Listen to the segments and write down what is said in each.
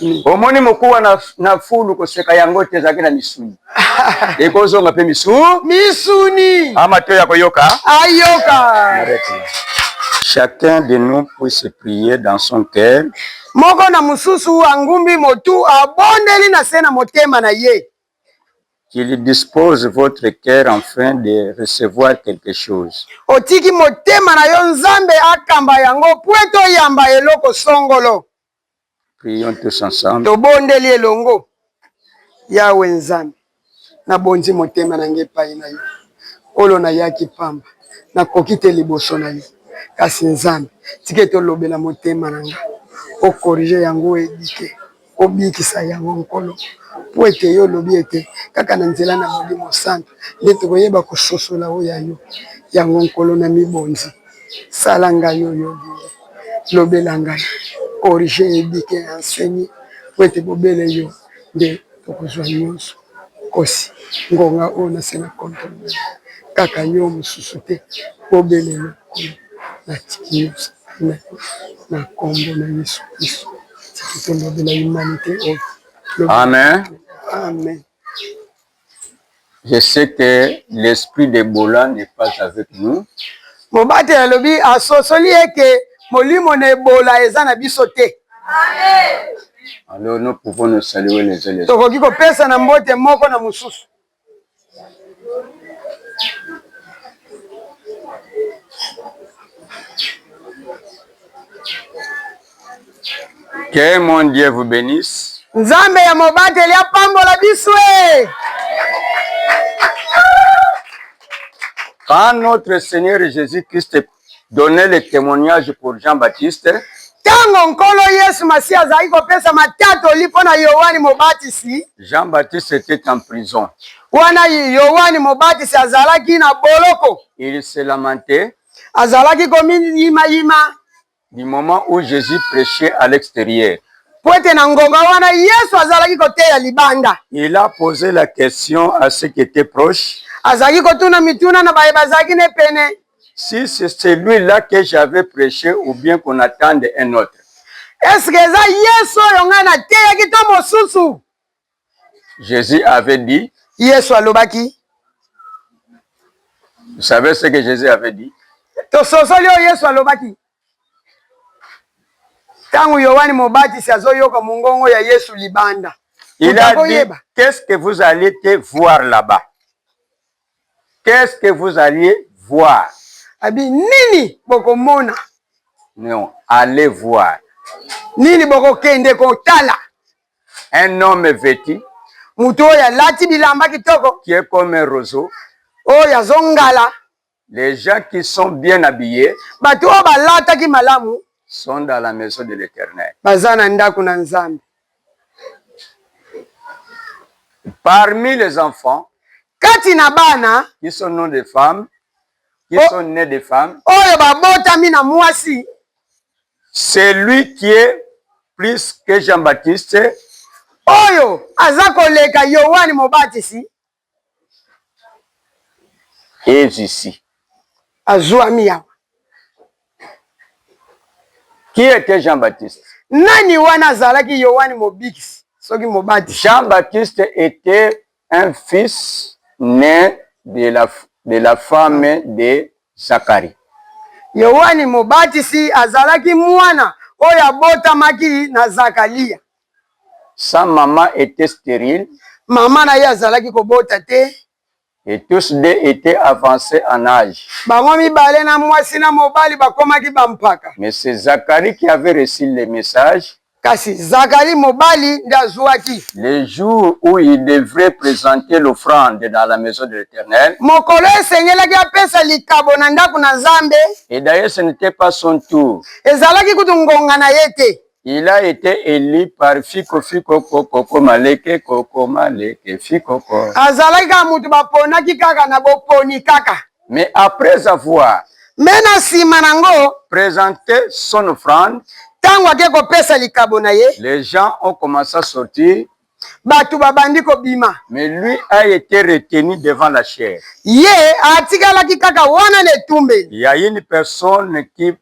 Mm. omoni mokuwa na, na fulu koseka yango te ezalaki na misuni ekozonga mpe misu misuni amato ya koyoka ayoka chacun de nous puisse prier dans son cœur moko na mosusu angumbi motu abondeli na se na motema na ye qu'il dispose votre cœur enfin de recevoir quelque chose otiki motema na yo nzambe akamba yango mpo ete oyamba eloko songolo Prions tous ensemble. Tobondeli elongo. Yawe Nzambe, nabonzi motema na ngai epai na yo. Olo nayaki pamba, nakoki te liboso na yo. Kasi Nzambe, tika ete olobela motema na ngai, okorije yango oyo ebike, obikisa yango Nkolo. Mpo ete yo olobi ete kaka na nzela na Molimo Santu nde tokoyeba kososola oyo ya yo. Yango Nkolo, namibonzi. sala ngai oyo olingi, lobela ngai corrige eduque et enseigne po ete bobele yo nde tokozwa nyonso kosi ngonga oyo nase na controle na yo kaka yo mosusu te bobele yo nkolo natiki nyonso na yo na kombo na yesu kristo tiki tolobela humanite oyo amen amen je sais que l'esprit de bola n'est pas avec nous mobate alobi asosoli ye ke molimo na ebola eza na biso te alors nous pouvons nous saluer les uns les autres tokoki kopesa na mbote moko na mosusu Que mon Dieu vous benisse. Nzambe ya mobateli apambola biso. Eh. Quand notre Seigneur Jésus-Christ donnait le témoignage pour Jean-Baptiste, ntango nkolo yesu masiya azalaki kopesa matatoli mpo na yohane mobatisi jean baptiste était en prison wana yohane mobatisi azalaki na boloko il se lamentait azalaki komiyimayima Du moment où Jesus prechait à l'exterieur. Mpo ete na ngonga wana Yesu azalaki koteya libanda. Il a pose la question à ceux qui etaient proches. Azalaki kotuna mituna na baye bazalaki ne pene. Si c'est celui-là que j'avais preche ou bien qu'on attende un autre. Est-ce que eza Yesu oyo ngai nateyaki to mosusu? Jésus avait dit. Yesu alobaki. Vous savez ce que Jésus avait dit? Tososoli oyo Yesu alobaki. Tango Yohane Mobatisi azoyoka mongongo ya Yesu libanda. Il a dit, qu'est-ce que vous allez te voir là-bas? Qu'est-ce que vous allez voir? Abi nini bokomona? Non, allez voir. Nini bokokende kotala? un homme veti moto oyo alati bilamba kitoko qui est comme un roseau oyo azongala les gens qui sont bien habillés bato oyo balataki malamu sont dans la maison de l'éternel baza na ndako na nzambe parmi les enfants kati na bana qui sont non des femmes qui oh, sont nés de femmes. Oyo babotami na mwasi. Celui qui est plus que Jean-Baptiste. Oyo aza koleka Yohane Mobatisi. Est ici. Azwami awa. Qui était Jean-Baptiste? Nani wana azalaki Yohane Mobikisi soki Mobatisi? Jean-Baptiste était Un fils naît de la, de la femme de Zacharie. Yoane Mobatisi azalaki mwana oyo abotamaki na Zakalia. Sa maman etait sterile. Mama na ye azalaki kobota te. Et tous deux etaient avancent en age. Bango mibale na mwasi na mobali bakomaki bampaka. Mais c'est Zacharie qui avait reçu le message. Kasi Zacharie mobali nde azuaki. Le jour où il devrait presenter l'offrande dans la maison de l'Eternel. Mokolo esengelaki apesa likabo na ndako na Nzambe. Et d'ailleurs ce n'était pas son tour. Ezalaki kutu ngonga na ye te. Il a été élu par Fiko Fiko Koko Komaleke Koko Maleke Fiko Koko. Azalaki kaka mutu baponaki kaka na boponi kaka. Mais après avoir. Mais na sima nango. Presente son offrande. Tango ake kopesa likabo na ye. Les gens ont commencé à sortir. Bato babandi kobima. Mais lui a été retenu devant la chair. Ye atikalaki kaka wana na etumbeli. Il y a une personne qui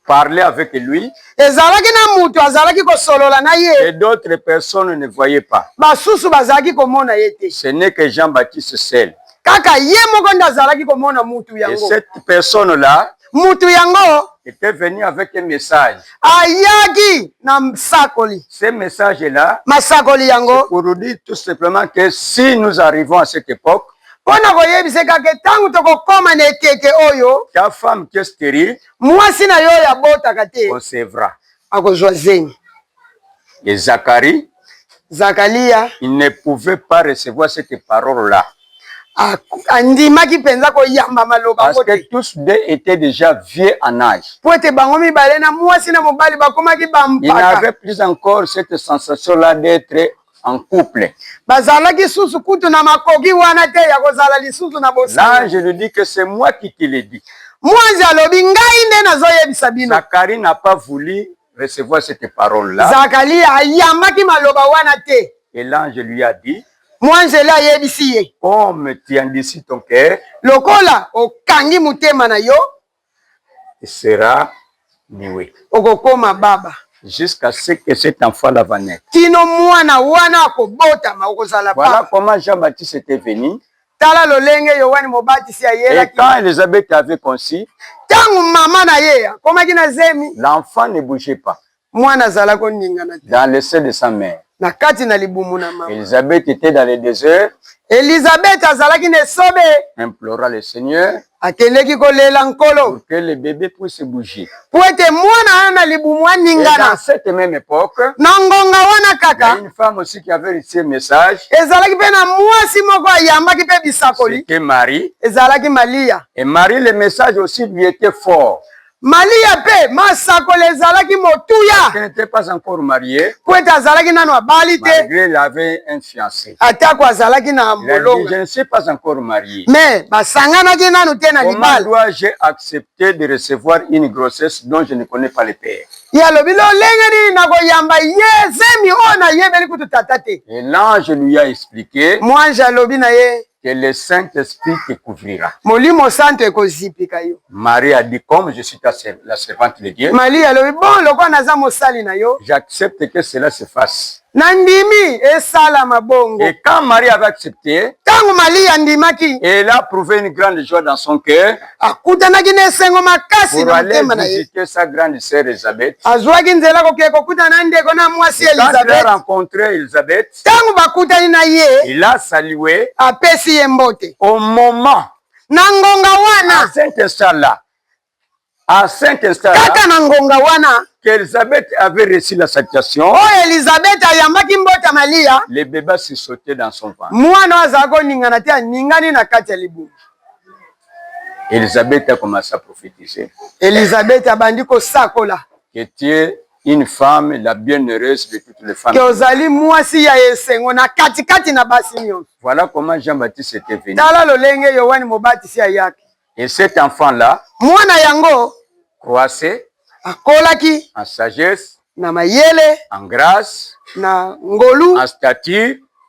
parler avec lui. Ezalaki na mutu azalaki kosolola na ye. Et d'autres personnes ne voyaient pas. Basusu bazalaki komona ye te. Ce n'est que Jean-Baptiste seul. Kaka ye moko nde azalaki komona mutu yango. Et cette personne là. Mutu yango. Était venu avec un message. Ayaki na msakoli. Ce message là. Masakoli yango. Pour nous dire tout simplement que si nous arrivons à cette époque. mpo na koyebisa kaka ntango tokokoma na ekeke oyo ta femme qui est stérile mwasi na yo oyo abotaka te concevra akozwa zemi et Zacharie zakalia il ne pouvait pas recevoir cette parole là andimaki mpenza koyamba maloba parce que tous deux étaient déjà vieux en âge mpo ete bango mibale na mwasi na mobali bakomaki bampaka il n'avait plus encore cette sensation là d'être en couple. Bazalaki susu kutu na makoki wana te ya kozala lisusu na bosolo. Là, je lui dis que c'est moi qui te le dis. Mwanzi alobi ngai nde nazoyebisa bino. Zacharie n'a pas voulu recevoir cette parole là. Zacharie ayambaki maloba wana te. Et l'ange lui a dit. Mwanzele ayebisi ye. Comme tu endurcis ton cœur. Lokola okangi motema na yo. sera louer. Okokoma baba. Jusqu'à ce que cet enfant là va naître. Kino mwana wana akobotama okozala baba. Voilà comment Jean-Baptiste était venu. Tala lolenge Yoane Mobatisi ayelaki. Et quand Elisabeth avait conçu. Tango mama na ye akomaki na zemi. L'enfant ne bougeait pas. Mwana azala koningana te. Dans le sein de sa mère. Na kati na libumu na mama. Elisabeth etait dans le desert. Elisabeth azalaki na esobe. Implora le Seigneur. Akendeki kolela Nkolo. Pour que le bebe puisse bouger. Po ete mwana aya na libumu aningana. Et dans cette même époque. Na ngonga wana kaka. Une femme aussi qui avait reçu un message. Ezalaki pe na mwasi moko ayambaki pe bisakoli. C'était Marie. Ezalaki Malia. Et Marie le message aussi lui était fort. Malia mpe masakoli ezalaki motuya mpo ete azalaki nano abali te, atako azalaki na molonga me basanganaki nano te na libala. Ye alobi, lolenge nini nakoyamba ye zemi oyo nayebeli kutu tata te? Mwanje alobi na ye. que le Saint-Esprit te couvrira. Molimo santo ekozipika yo. Marie a dit comme je suis ta serv- la servante de Dieu, Malia alobi bon, lokola naza mosali na yo, j'accepte que cela se fasse. nandimi esalama bongo. Et quand Marie avait accepté, Ntango Malia andimaki, elle a prouvé une grande joie dans son cœur akutanaki na esengo makasi pour na aller motema na ye. visiter sa grande sœur Elisabeth. Azwaki nzela kokende kokutana na ndeko na mwasi Quand elle a Elizabeth. rencontré Elisabeth, fete. Tango bakutani na ye. Il a salué. Apesi ye mbote. Au moment. Na ngonga wana. À cet instant-là. À cet instant-là. Kaka na ngonga wana. qu'Elisabeth avait reçu la salutation. Oh, Elisabeth ayambaki mbota Malia. Le bébé se sautait dans son ventre. Mwana azalaki koningana te aningani na kati ya libumu. Elisabeth a commencé à prophétiser. Elisabeth abandi kosakola. Que Dieu Une femme la bienheureuse de toutes les femmes. Que ozali mwasi ya esengo na kati kati na basi nyonso. Voilà comment Jean-Baptiste était venu. Tala lolenge Yoane Mobatisi ayaki. Et cet enfant là. Mwana yango. Croissait. Akolaki. En sagesse. Na mayele. En grâce. Na ngolu. En stature.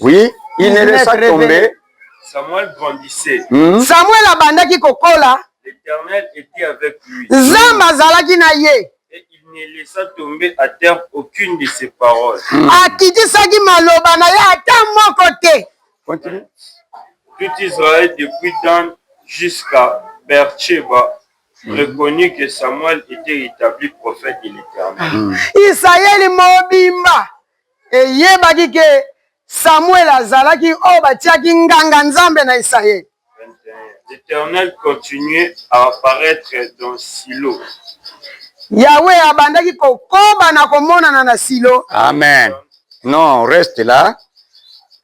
Oui, il ne laisse pas tomber. Samuel grandissait. Hmm? Samuel abandaki kokola. L'Éternel était avec lui. Nzambe azalaki na ye. Et il ne laissa tomber à terre aucune de ses paroles. Hmm. Akitisaki maloba na ye ata moko te. Continue. Tout Israël depuis Dan jusqu'à Beersheba hmm. reconnut que Samuel était établi prophète de l'Éternel. Israël mobimba eyebaki ke Samuel azalaki oyo batiaki nganga Nzambe na Isayele. L'Eternel continuait à apparaître dans Silo. Yahweh abandaki kokoba na komonana na Silo. Amen. Non, reste là.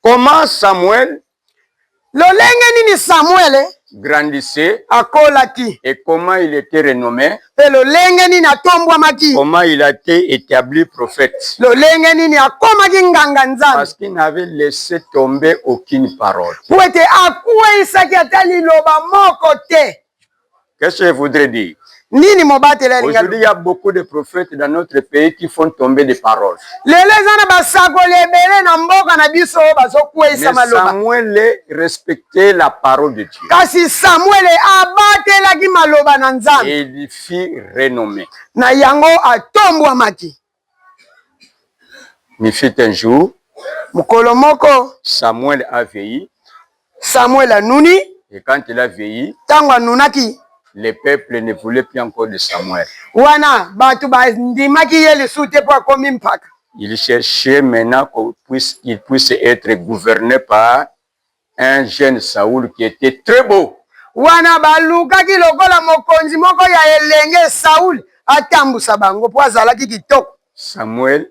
Comment Samuel Lolenge nini Samwele grandissait akolaki? et comment il était renomme? mpe lolenge nini atombwamaki? comment il a ete etabli prophète? lolenge nini akomaki nganga-nzambe? parce qu'il n'avait laissé tomber aucune parole. mpo ete akweisaki ata liloba moko te. Qu'est-ce que je voudrais dire? Nini mobateli alinga? Aujourd'hui, il y a beaucoup de prophètes dans notre pays qui font tomber des paroles. Lelo eza na basakoli ebele na mboka na biso bazokweyisa maloba. Samuel respectait la parole de Dieu. Kasi Samuel abatelaki maloba na Nzambe. Et il fit renommée. Na yango atombwamaki. Il fut un jour. Mokolo moko. Samuel a veilli. Samuel anuni. Et quand il a veilli. Tango anunaki. Le peuple ne voulait plus encore de Samuel. Wana bato bandimaki ye lisusu te mpo akomi mpaka. Il cherchait maintenant qu'il puisse, puisse être gouverné par un jeune Saul qui était très beau. Wana balukaki lokola mokonzi moko ya elenge Saul atambusa bango mpo azalaki kitoko. Samuel.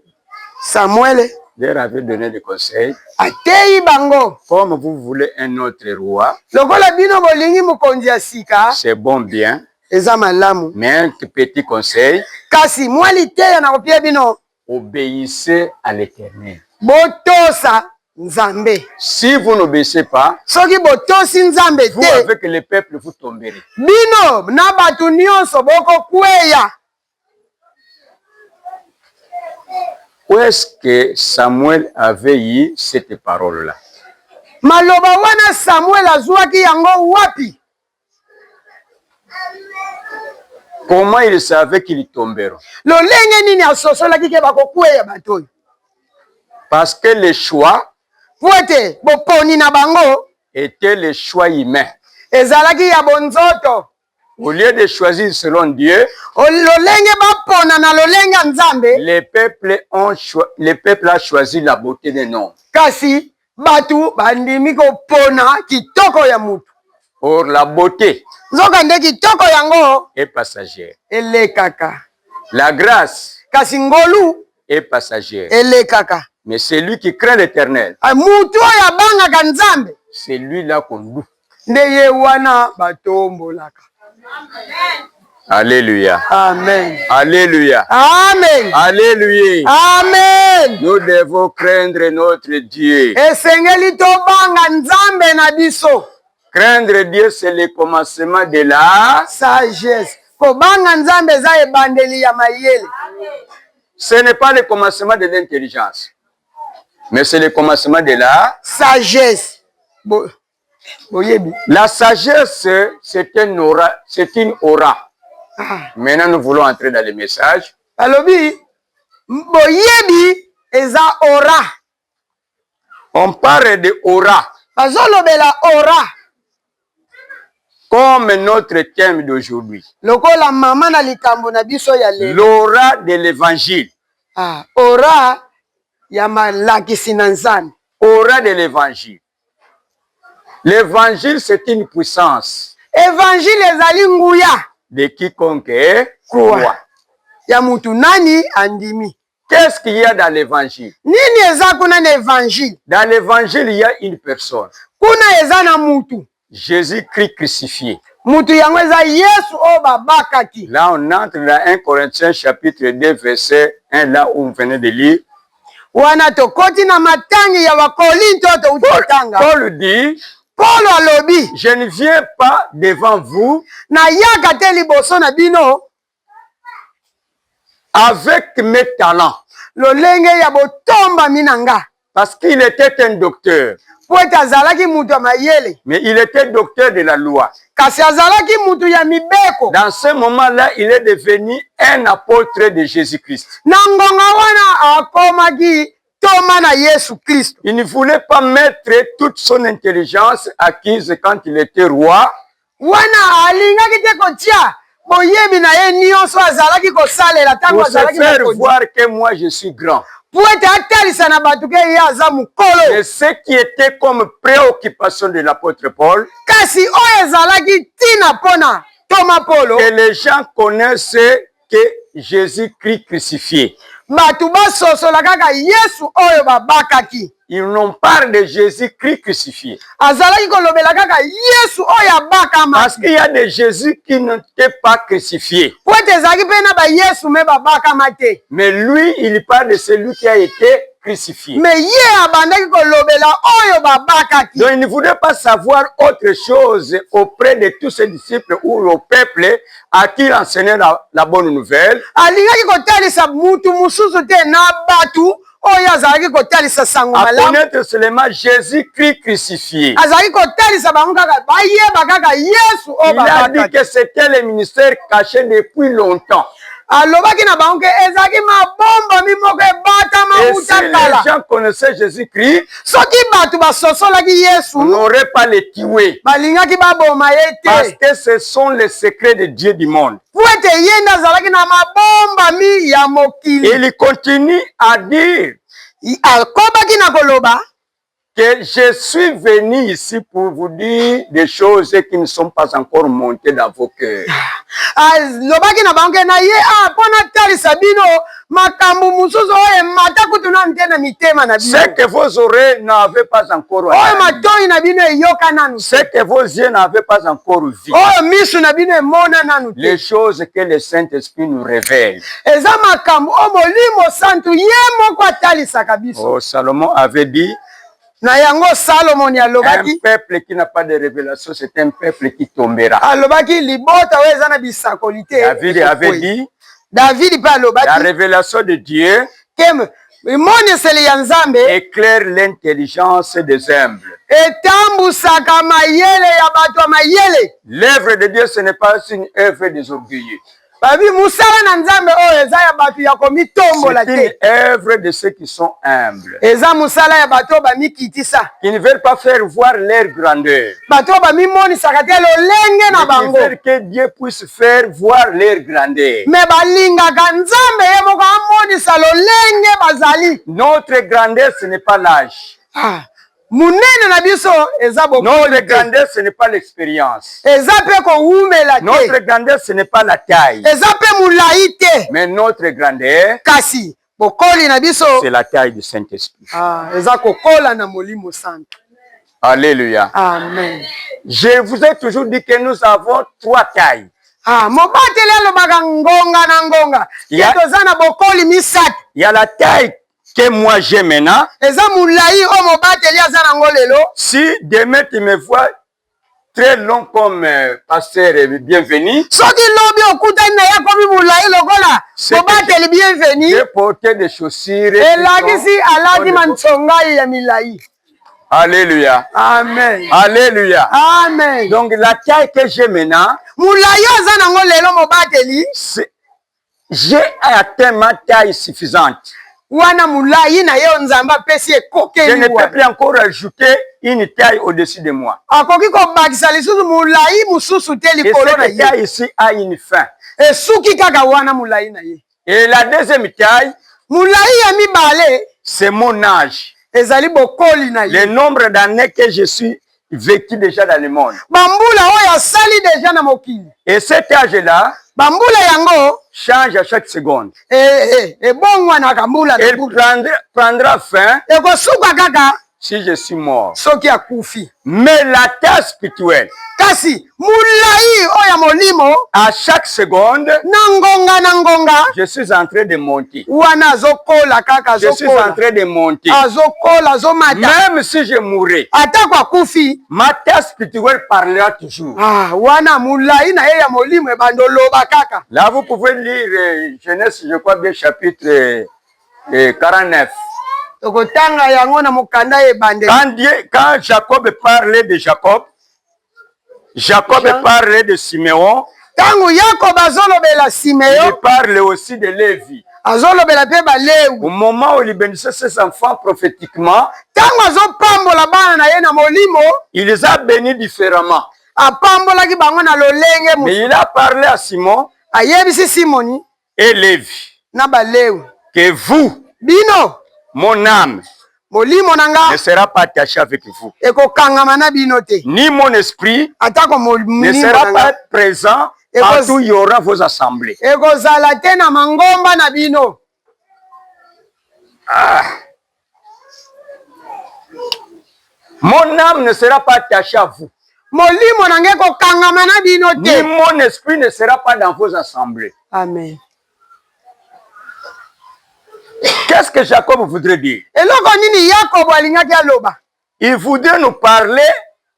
Samuel. Leur avait donné des conseils. Ateyi bango. Comme vous voulez un autre roi. Lokola bino bolingi mokonzi ya sika. C'est bon bien. Eza malamu. Mais un petit conseil. Kasi mwa liteya nakopia bino. Obeissez à l'Eternel. Botosa Nzambe. Si vous n'obéissez pas, soki botosi Nzambe te, vous avec le peuple vous tomberez. Bino na bato nyonso boko kweya. Où est-ce que Samuel avait eu cette parole-là? Maloba wana Samuel azuaki yango wapi? Comment il savait qu'il tomberait? Lolenge nini asosolaki ke bakokweya bato oyo? Parce que le choix po ete boponi na bango était le choix humain. Ezalaki ya bonzoto. Au lieu de choisir selon Dieu, lolenge bapona na lolenge ya Nzambe, les peuples ont les peuples a choisi la beauté des noms. Kasi Bato bandimi kopona kitoko ya moto. Or la beaute. Nzokande kitoko yango. Est passagère. Elekaka. La grace. Kasi ngolu. Est passagère. Elekaka. Mais celui qui craint l'Eternel. Moto oyo abangaka Nzambe. Celui-là qu'on loue. nde ye wana batombolaka Alléluia. Amen. Alléluia. Amen. Alléluia. Amen. Nous devons craindre notre Dieu. Esengeli tobanga Nzambe na biso. Craindre Dieu c'est le commencement de la sagesse. Kobanga Nzambe eza ebandeli ya mayele. Ce n'est pas le commencement de l'intelligence. Mais c'est le commencement de la sagesse. Bo... oyebi la sagesse c'est un aura c'est une aura ah. maintenant nous voulons entrer dans les messages alobi boyebi eza aura on parle de aura bazolobela aura comme notre thème d'aujourd'hui lokola mama na likambo na biso ya lelo l'aura de l'évangile ah, aura ya malakisi na nzambe aura de l'évangile L'evangile c'est une puissance. Evangile ezali nguya. De quiconque croit. Ya mutu nani andimi. Qu'est-ce qu'il y a dans l'évangile? Nini eza kuna na evangile? Dans l'évangile il y a une personne. Kuna eza na mutu. Jesus Christ crucifié. Mutu yango eza Yesu oyo oh, babakaki. Là on entre dans 1 Corinthiens chapitre 2 verset 1 là où on venait de lire. Wana tokoti na matangi ya Bakolinto oyo touti kotanga. Paul dit Paul alobi, je ne viens pas devant vous. Nayaka te liboso na bino. avec mes talents lolenge ya botombami na nga parce qu'il était un docteur mpo ete azalaki moto ya mayele mais il était docteur de la loi kasi azalaki moto ya mibeko dans ce moment là il est devenu un apôtre de jésus christ na ngonga wana akomaki ntoma na yesu kristo il ne voulait pas mettre toute son intelligence acquise quand il était roi Wana alingaki te kotia boyebi na ye nyonso azalaki kosalela ntango azalaki mokonzi. Mpo ete atalisa na bato ke ye aza mokolo. Kasi oyo ezalaki ntina mpo na ntoma Polo. que Jesus Christ crucifie. Bato basosola kaka Yesu oyo babakaki. Il n'ont pas de Jésus Christ crucifié. Azalaki kolobela kaka Yesu oyo abakama. Parce qu'il y a des Jésus qui n'étaient pas crucifiés. Po ete ezalaki mpe na ba Yesu me babakama te. Mais lui, il parle de celui qui a été crucifié. Mais ye abandaki kolobela oyo babakaki. Donc il ne voulait pas savoir autre chose auprès de tous ses disciples ou au peuple à qui enseigner la, la bonne nouvelle alingaki kotalisa mutu mususu te na batu oyo azalaki kotalisa sango malamuconnaître seulement jésus christ crucifié azalaki kotalisa bango kaka bayeba kaka yesu oyo a dit que c'était le ministère caché depuis longtemps alobaki na bango ke ezalaki mabombami moko ebatama uta kala soki bato basosolaki yesu n'aurait pas le tuer balingaki baboma ye te parce que ce sont les secrets de dieu du monde mpo ete ye nde azalaki na mabombami ya mokili il continue à dire akobaki na koloba que je suis venu ici pour vous dire des choses qui ne sont pas encore montées dans vos cœurs alobaki na bango ke na ye a mpo natalisa bino makambo mosusu oyo emata kutu nanu te na mitema na bino. Ce que vos oreilles n'avaient pas encore oyo entendu, matoi na bino eyoka nanu ce te, que vos yeux n'avaient pas encore vu, oyo miso na bino emona nanu te, les choses que le Saint-Esprit nous révèle. eza makambo oyo Molimo Santu ye moko atalisaka biso. Oh, Salomon avait dit, Na yango Salomoni alobaki, alobaki libota oyo eza na bisakoli te. Davidi mpe alobaki emoniseli ya Nzambe etambusaka mayele ya bato ya mayele. babi mosala na nzambe oyo eza ya bato ya komitombola te œuvre de ceux qui sont humbles eza mosala ya bato oyo bamikitisa qui ne veulent pas faire voir leur grandeur bato oyo bamimonisaka te lolenge na bango que dieu puisse faire voir leur grandeur me balingaka nzambe ye moko amonisa lolenge bazali notre grandeur ce n'est pas l'âge ah. Munene na biso eza bokonzi. Notre grandeur ce n'est pas l'expérience. Eza pe ko wumela te. Notre grandeur ce n'est pas la taille. Eza pe mulayi te. Mais notre grandeur. Kasi bokoli na biso. C'est la taille du Saint-Esprit. Ah, eza kokola na Molimo Santo. Alléluia. Amen. Je vous ai toujours dit que nous avons trois tailles. Ah, mobateli alobaka ngonga na ngonga. Ya toza na bokoli misato. Ya la taille que moi j'ai maintenant. Eza mulayi o mobateli aza nango lelo. Si demain tu me vois très long comme euh, pasteur bienvenu. Soki lobi okutani na ye akomi mulayi lokola mobateli bienvenu. J'ai porté des chaussures. Elakisi alati manchongai ya milayi. Alléluia. Amen. Alléluia. Amen. Donc la taille que j'ai maintenant. Mulayi aza nango lelo mobateli. J'ai atteint ma taille suffisante. Wana mulayi na yo Nzambe apesi ye ekokeli wana. Je ne peux plus encore ajouter une taille au-dessus de moi. Akoki kobakisa lisusu mulayi mosusu te likolo na ye. Et cette taille ici a une fin. Esuki kaka wana mulayi na ye. Et la deuxième taille. Mulayi ya mibale. C'est mon âge. Ezali bokoli na ye. Le nombre d'années que je suis Veki deja dans le monde. Bambula oyo asali deja na mokili. Et cet âge là. Bambula yango. Change à chaque seconde. Eh eh, eh ebongwanaka mbula na mbula. Prendra, prendra fin. Ekosuka kaka. Si je suis mort. Soki akufi. Mais la terre spirituelle. Kasi molai oyo ya molimo à chaque seconde na ngonga na ngonga je suis en train de monter wana azokola kaka je suis en train de monter azokola azomata même si je mourrai atako akufi ma tête spirituelle parlera toujours ah wana molai na ye ya molimo ebanda oloba kaka là vous pouvez lire euh, Genèse je crois bien chapitre euh, 49 euh, tokotanga yango na mokanda ebandeli quand, quand Jacob parlait de Jacob Jacob Jean... parle de Simeon. Tango Yakob azolobela Simeon. Il parle aussi de Levi. azolobela mpe balewi au moment où libendisa ses enfants prophétiquement ntango azopambola bana na ye na molimo il les a bénis différemment apambolaki bango na lolenge mais il a parlé à simon ayebisi simoni et Levi, na Balewi, que vous, bino, mon ame, molimo na nga, ne sera pas attache avec vous, ekokangama na bino te, ni mon esprit, atako molimo ne sera pas present partout il y aura vos assemblées, ekozala te na mangomba na bino. Ah. Mon âme ne sera pas attachée à vous. Molimo na ngai kokangama na bino te. Ni mon esprit ne sera pas dans vos assemblées. Amen. Qu'est-ce que Jacob voudrait dire? Eloko nini Yakobo alingaki aloba? Il voudrait nous parler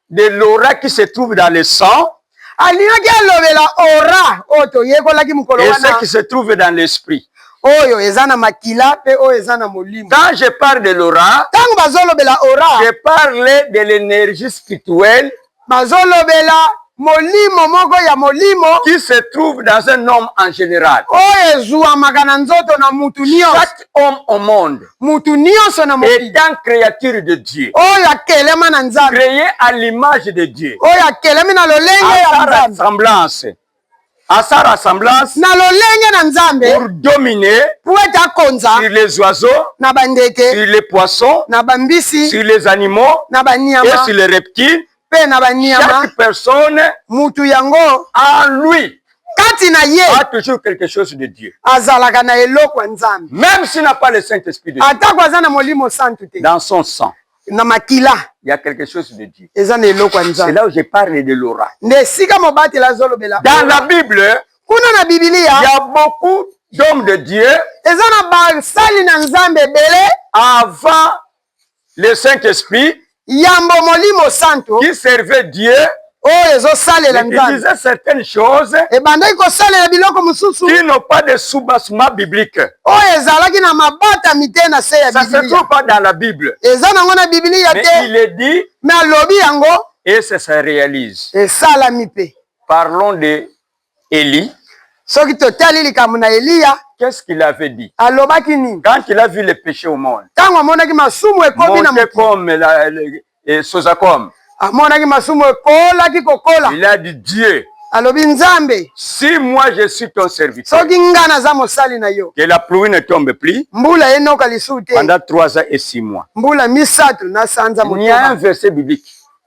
de l'aura qui se trouve dans le sang. Alingaki alobela aura oyo toyekolaki mokolo wana. Et ce qui se trouve dans l'esprit. Oyo eza na makila pe oyo eza na molimo. Quand je parle de l'aura, tango bazolobela aura, je parle de l'énergie spirituelle bazolobela molimo moko ya molimo qui se trouve dans un homme en général. oyo ezuamaka na nzoto na mutu nyonso Chaque homme au monde mutu nyonso na mokili est un créature de Dieu, oyo akelema na nzambe créé à l'image de Dieu, oyo akelemi na lolenge à ya sa nzambe ressemblance. asala assemblance na lolenge na nzambe pour dominer pour ete akonza sur les oiseaux na bandeke sur les poissons na bambisi sur les animaux na baniama et sur les reptiles mpe na baniama chaque personne mutu yango en lui kati na ye a toujours quelque chose de Dieu azalaka na eloko ya nzambe même s'il n'a pas le saint esprit de Dieu atako aza na molimo santu te dans son sang na makila il y a quelque chose de Dieu. eza na eloko ya nzambe C'est là où je parle de l'aura. nde esika mobateli azolobela Dans la Bible, kuna na il y bibilia a beaucoup d'hommes de Dieu eza na basali na nzambe ebele avant le Saint-Esprit yambo molimo santo qui servaient Dieu oyo ezosalela nzambeebandaki kosalela biloko mosusu oyo ezalaki na mabatami te na se ya biblia eza nango na biblia te me alobi yango esalami mpe Elie. Soki totali likambo na Eliya. Qu'est-ce qu'il avait dit? Alobaki nini? Quand il a vu le péché au monde. Tango amonaki masumu ekomi na mokili. Monter comme la, le, eh, soza comme. Amonaki masumu ekolaki kokola. Il a dit Dieu. alobi nzambe si moi je suis ton serviteur soki nga naza mosali na yo que la pluie ne tombe plus mbula enoka lisusu te pendant 3 ans et 6 mois mbula misato na sanza motoba un verset biblique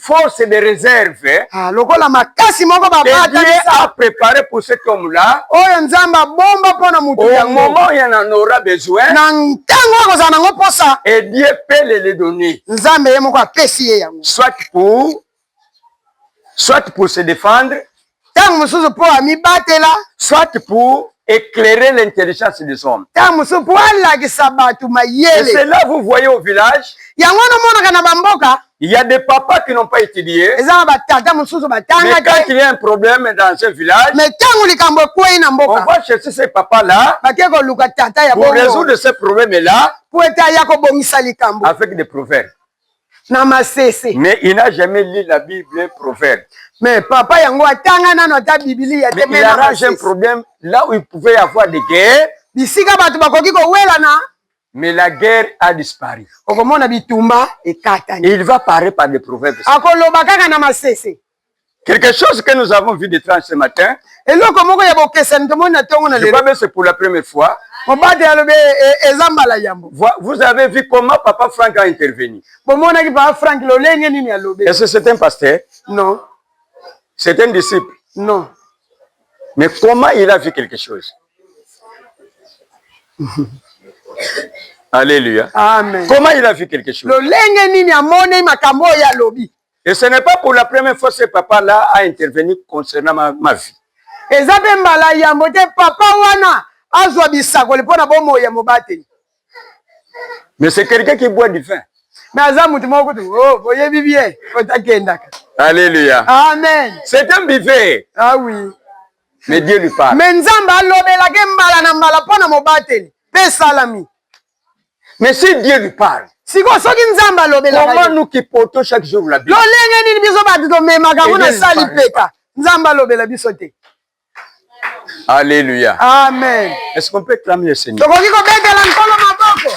force de réserve ah, lokola makasi moko babatalisa préparé pour cet homme là oyo nzambe abomba mpo na moto yango moment ya na nora besoin na ntango akozala nango mposa et dieu peut le le donner nzambe ye moko apesi ye yango soit pour soit pour se défendre ntango mosusu mpo amibatela soit pour éclairer l'intelligence des hommes ntango mosusu mpo alakisa bato mayele c'est là vous voyez au village yango wana omonaka na bamboka il y a des papas qui n'ont pas étudié eza na batata mosusu batanga quand il y a un problème dans un village mais ntango likambo ekwei na mboka on va chercher ces papas là bakei koluka tata ya pour résoudre ce problème là mpo ete aya kobongisa likambo avec des proverbes na masese mais il n'a jamais lu la bible proverbe mais papa yango atanga nano ata bibilia te mais il arrange un problème là où il pouvait y avoir des guerres bisika bato bakoki kowelana mais la guerre a disparu okomona bitumba ekatani il va parler par des proverbes akoloba kaka na masese quelque chose que nous avons vu de tranche ce matin eloko moko ya bokesani tomoni na ntongo na lelo c'est pour la première fois mobadi alobi eh, eh, eza mbala yambo vous avez vu comment papa frank a intervenu bomonaki papa frank lolenge nini alobi est ce c'est un pasteur non c'est un disciple non mais comment il a vu quelque chose Alléluia. Amen. Comment il a vu quelque chose? Lolenge nini amoni makambo ya lobi. Et ce n'est pas pour la première fois ce papa-là a intervenu concernant ma, ma vie. eza mpe mbala yambo te papa wana azwa bisakoli mpo na bomoi ya mobateli mais c'est quelqu'un qui boit du vin mais aza moto moko kutu oh, boyebi bien otakendaka alleluia amen c'est un bivet ah oui mais dieu lui parle mais nzambe alobelaki mbala na mbala mpo na mobateli mpe esalami Mais si Dieu lui parle. Siko soki Nzambe alobelaka ye. Comment nous qui portons chaque jour la Bible. Lolenge nini biso bato tomemaka yango na sali peka. Nzambe alobela biso te. Alléluia. Amen. Est-ce qu'on peut clamer le Seigneur? Tokoki kobetela Nkolo maboko.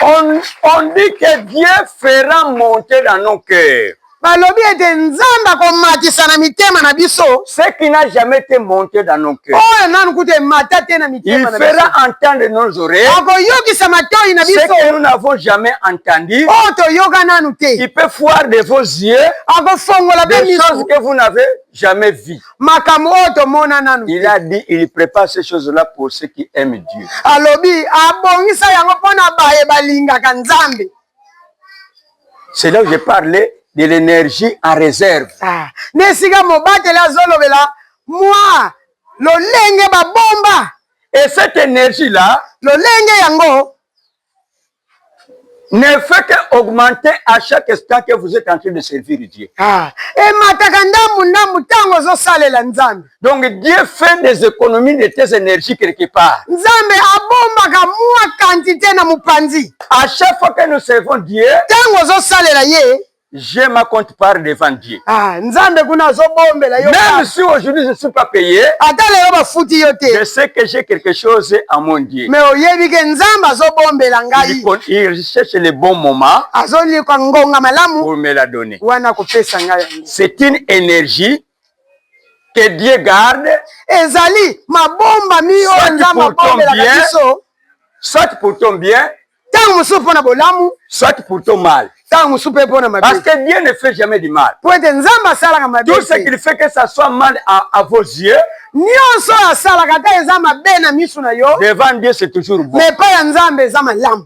On, on dit que Dieu fera monter dans nos cœurs. Balobi ete Nzambe akomatisa na mitema na biso. Ce qui n'a jamais été monté dans nos cœurs. Oyo nanu kutu emata te na mitema na biso. Il fera entendre nos oreilles. Akoyokisa matoi na biso. Ce que nous n'avons jamais entendu. Oyo toyoka nanu te. Il peut voir de vos yeux. Akofongola pe miso. Des choses que vous n'avez jamais vu. Makambo oyo tomona nanu. Il a dit il prépare ces choses-là pour ceux qui aiment Dieu. Alobi abongisa yango pona baye balingaka Nzambe. c'est là où je parlais de l'énergie en réserve ah. na esika mobateli azolobela mwa lolenge babomba et cette énergie là lolenge yango ne fait que augmenter à chaque instant que vous êtes en train de servir Dieu. Ah, et mataka ndambu ndambu tango zo salela nzambe. Donc Dieu fait des économies de tes énergies quelque part. Nzambe abombaka mwa quantité na mupanzi. À chaque fois que nous servons Dieu, tango ozo salela ye, j'ai ma compte part devant Dieu. Ah, Nzambe kuna azo bombela yo. Même si aujourd'hui je ne suis pas payé, ata lelo ba futi yo te. Je sais que j'ai quelque chose à mon Dieu. Mais oyebi ke Nzambe azo bombela ngai. Il cherche le bon moment. Azo liko ngonga malamu. Pour me la donner. Wana ko pesa ngai. C'est une énergie que Dieu garde ezali mabomba mi oyo nzambe abombelaka biso soit pour ton bien ntango mosusu mpo na bolamu soit pour ton mal ntango mosusu mpe mpo na mabe parce que Dieu ne fait jamais du mal mpo ete nzambe asalaka mabe tout ce qu'il fait que ça soit mal à, à vos yeux nyonso oyo asalaka ata eza mabe na miso na yo devant Dieu c'est toujours bon mais epai ya nzambe eza malamu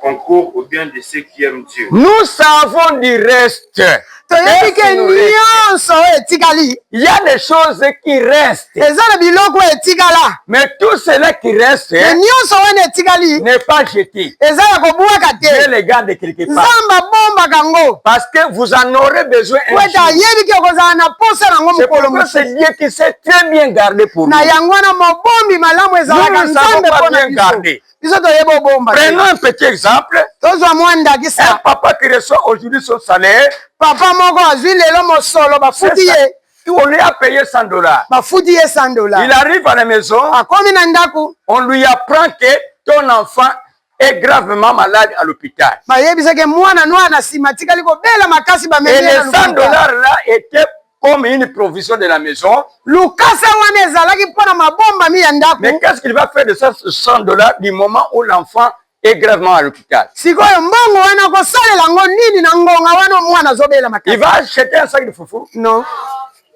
concours ou bien de ceux qui aiment Dieu. Nous savons du reste. toyebi ke nyonso oyo etikali il y a des choses qui restent eza na biloko oyo etikala mais tout cela qui reste mais nyonso wana etikali n'est pas jeté eza ya kobwaka te Dieu les garde quelque part nzambe abombaka yango parce que vous en aurez besoin un wete ayebi ke okozala na posa na yango mokolo mosusu c'est Dieu qui sait très bien garder pour nous na yango wana mobombi malamu ezalaka nzambe mpo na biso biso toyeba obomba prenons un petit exemple tozwa mwa ndakisa papa qui reçoit aujourd'hui son salaire papa moko azwi lelo mosolo bafuti ye on lui a payé 100 dollars bafuti ye 100 dollars il arrive à la maison akomi na ndako on lui apprend que ton enfant est gravement malade à l'hôpital bayebisaki mwana nwana nsima atikali kobela makasi bamemi et les 100 dollars là était comme une provision de la maison. Lukasa wana ezalaki mpo na mabombami ya ndako. Mais qu'est-ce qu'il va faire de 100 dollars du moment où l'enfant est gravement à l'hôpital? Sikoyo mbongo wana kosalela ngo nini na ngonga wana mwana azobela makasi? Il va acheter un sac de foufou? Non.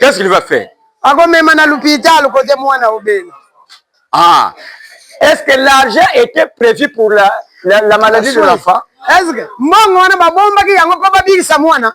Qu'est-ce qu'il va faire? Akomema na l'hôpital kote mwana obela. Ah. Est-ce que l'argent était prévu pour la, la, la maladie de l'enfant? Est-ce que mbongo wana babombaki yango mpo babikisa mwana?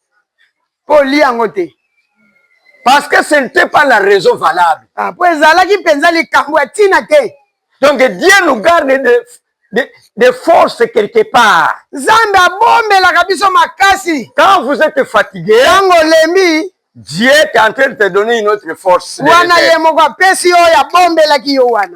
mpo olia yango te parce que ce n'était pas la raison valable ah, mpo ezalaki mpenza likambo ya ntina te donc dieu nous garde de, de, de force quelque part nzambe abombelaka biso makasi quand vous êtes fatigué ntango olembi Dieu est en train de te donner une autre force. Wana ye moko apesi yo ya bombelaki yo wana.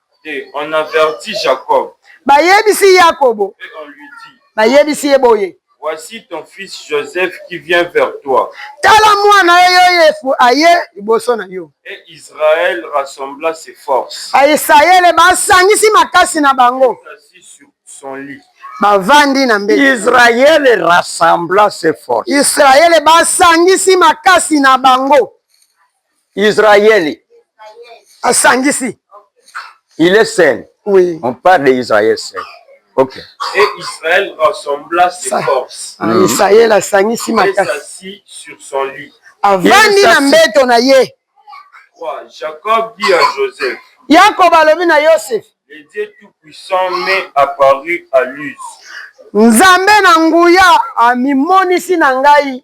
Et on avertit Jacob. Bayebisi Yakobo. Et on lui dit. Bayebisi ye boye. Voici ton fils Joseph qui vient vers toi. Tala mwana yo Yozefu aye liboso na yo. Et Israël rassembla ses forces. Bayisraele basangisi makasi na bango. Il s'assit sur son lit. Bavandi na mbete. Israël rassembla ses forces. Israele basangisi makasi na bango. Israël. Asangisi. Il est seul. Oui. On parle d'Israël seul. Ok. Et Israël rassembla ses forces. Ah, mm. Israël asangisi makasi. Et s'assit sur son lit. Avandi na mbeto na ye. Jacob dit à Joseph. Yakob alobi na Yosef. Le Dieu Tout-Puissant m'est apparu à Luz. Nzambe na nguya amimonisi na ngai.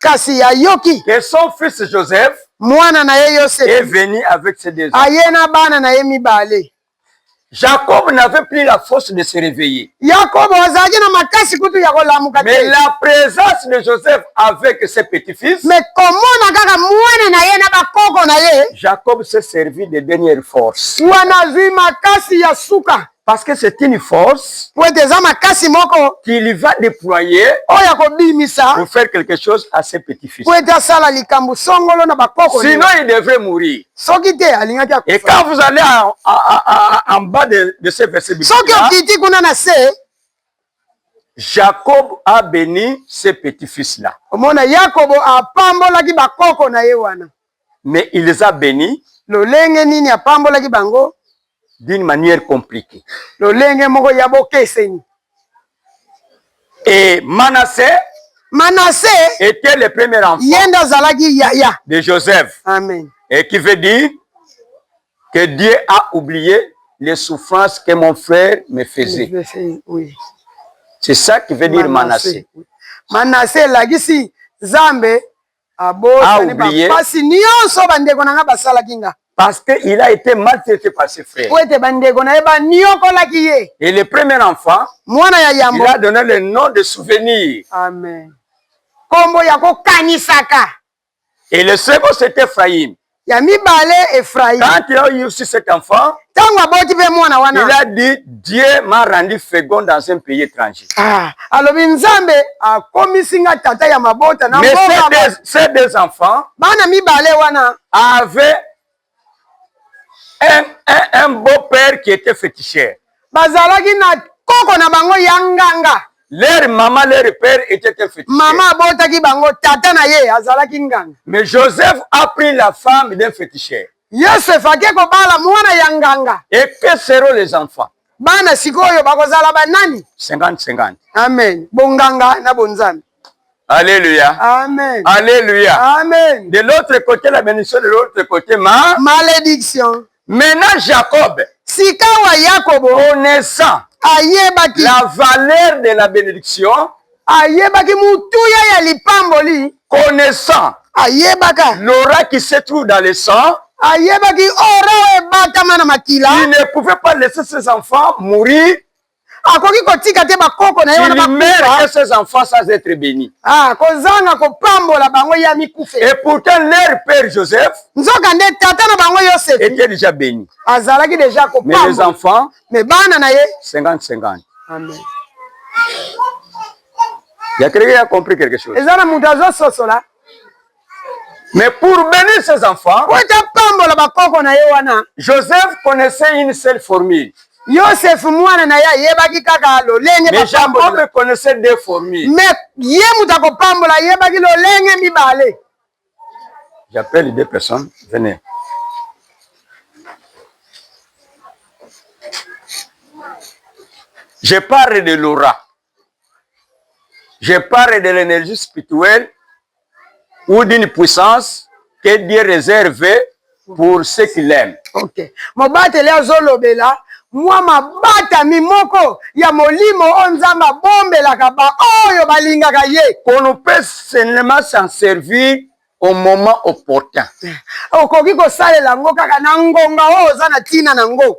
Kasi ya yoki. Et son fils Joseph. Mwana na ye Yosefe. Est venu avec ses deux. Aye na bana na ye mibale. Jacob n'avait plus la force de se réveiller. Yakobo azalaki na makasi kutu ya kolamuka te. Mais la présence de Joseph avec ses petits-fils. Mais komona kaka mwana na ye na bakoko na ye. Jacob s'est servi de dernière force. Wana azwi makasi ya suka. Parce que c'est une force. Pour être eza makasi moko. Qu'il va déployer. Oya ko bimisa. Pour faire quelque chose à ses petits-fils. Pour être asala likambo songolo na bakoko. Sinon il devrait mourir. Soki te alingaki akufa. Et quand vous allez en, en, en, en bas de, de ce verset biblique. Soki okiti kuna na se. Jacob a béni ses petits-fils là. Omona Yakobo apambolaki bakoko na ye wana. mais il les a benis lolenge nini apambolaki bango d'une manière compliquée lolenge moko ya bokeseni et manasse manasse était le premier enfant ye nde azalaki yaya de joseph amen et qui veut dire que dieu a oublié les souffrances que mon frère me faisait oui. c'est ça qui veut dire manasse manasse elakisi nzambe abosani bapasi nyonso bandeko na ngai basalaki nga parce que il a été maltraité par ses frères po ete bandeko na ye baniokolaki ye et le premier enfant mwana ya yambo il a donné le nom de souvenir amen nkombo ya kokanisaka et le second c'est ephraïm Ya mibale, Efraïm. Quand il a eu aussi cet enfant, ntango aboti mpe mwana wana, il a dit Dieu m'a rendu fécond dans un pays étranger. Ah, alobi Nzambe akomisi nga tata ya mabota na mboka. Mais ces deux enfants, bana mibale wana, avaient un, un, un beau-père qui était féticheur. Bazalaki na koko na bango ya nganga. Leur maman, leur père était un féticheur. Mama abotaki bango, tata na ye azalaki nganga. Mais Joseph a pris la femme d'un féticheur. Yosef ake kobala mwana ya nganga. Et que seront les enfants? Bana sikoyo bakozala ba nani? 50 50. Amen. Bonganga na bonzambe. Alléluia. Amen. Alléluia. Amen. De l'autre côté la bénédiction, de l'autre côté ma malédiction. Maintenant Jacob. Sikawa Yakobo. Connaissant. Ayebaki. La valeur de la benediction. Ayebaki motuya ya lipamboli. Connaissant. Ayebaka. L'aura qui se trouve dans le sang. Ayebaki ora oyo ebatama na makila. Il ne pouvait pas laisser ses enfants mourir. akoki kotika te bakoko na ye wana ah, kozanga kopambola bango ye amikufe et pourtant leur père joseph nzoka nde tata na bango yosefe était déjà béni azalaki déjà kopambola les enfants mais bana na ye 50 50 amen ya keleke ya compris quelque chose eza na moto azososola Mais pour bénir ses enfants, Joseph connaissait une seule formule. Joseph mwana na ye ayebaki kaka lolenge mais Jacob connaissait deux formules. Mais ye moto akopambola ayebaki lolenge mibale. J'appelle deux personnes, venez. Je parle de Laura. Je parle de l'energie spirituelle ou d'une puissance que Dieu réserve pour ceux qui l'aiment. Ok. Mobateli azolobela mwa mabatami moko ya molimo oyo Nzambe abombelaka baoyo balingaka ye. Qu'on ne peut seulement s'en servir au moment opportun. Okoki kosalela yango kaka na ngonga oyo oza na ntina na yango.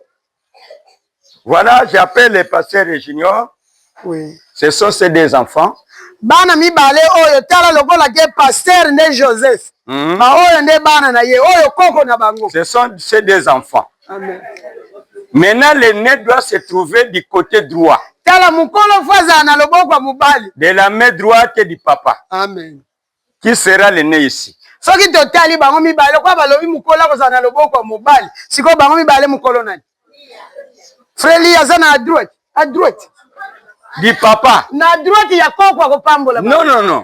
Voilà, j'appelle le pasteur Junior. Oui. Ce sont ces deux enfants. bana mibale oyo tala lokola ke pasteur nde joseph mm -hmm. baoyo nde bana na ye oyo koko na bango ce sont ces deux enfants Amen. maintenant le nez doit se trouver du côté droit tala mokolo fo azala na loboko ya mobali de la main droite du papa Amen. qui sera le nez ici soki totali bango mibale lokola balobi mokolo akozala na loboko ya mobali sikoyo bango mibale mokolo nani freli aza na adroite adroite di papa na adroite ya koko akopambola non non non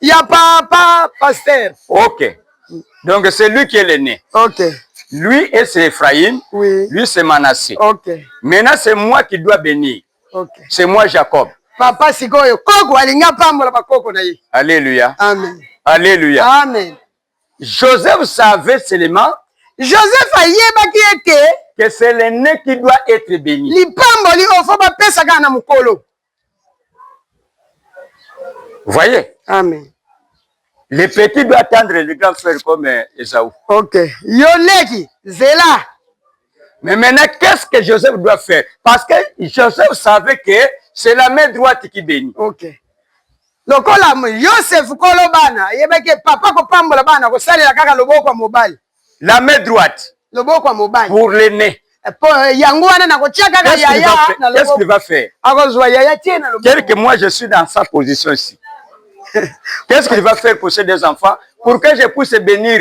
ya papa pasteur ok donc c'est lui qui est le né ok lui et c'est Ephraim oui. lui c'est Manassé ok maintenant c'est moi qui dois bénir okay. c'est moi jacob papa sikoyo koko alingi apambola bakoko na ye alleluya amen alleluya amen joseph savait seulement joseph ayebaki ete que c'est l'aîné qui doit être béni lipamboli oyo fo bapesa kaka na mokolo voyez amen le petit doit attendre le grand frère comme euh, esaou ok yo leki zela Mais maintenant, qu'est-ce que Joseph doit faire Parce que Joseph savait que c'est la main droite qui bénit. Ok. lokola yosefu kolo bana ayebaki papa kopambola bana kosalela kaka loboko ya mobali la main droite loboko ya mobali pour l'aîné eh, po eh, yango wana nakotia kaka yaya na loboko va faire akozwa yaya tie na loboko quelque moi je suis dans sa position ici qu'est-ce qu'il va faire pour ces deux enfants pour que je puisse bénir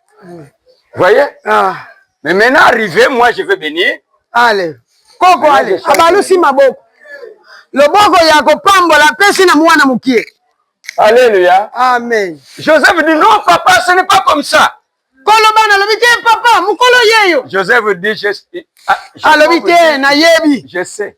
voyez ah. mais maintenant arrivé moi je veux bénir allez koko allez abalusi maboko loboko ya kopambola apesi na mwana mokie Alléluia. Amen. Joseph dit non, papa, ce n'est pas comme ça. koloba nalobi te papa mokolo yeyo joseph dit je, ah, alobi te nayebi je sais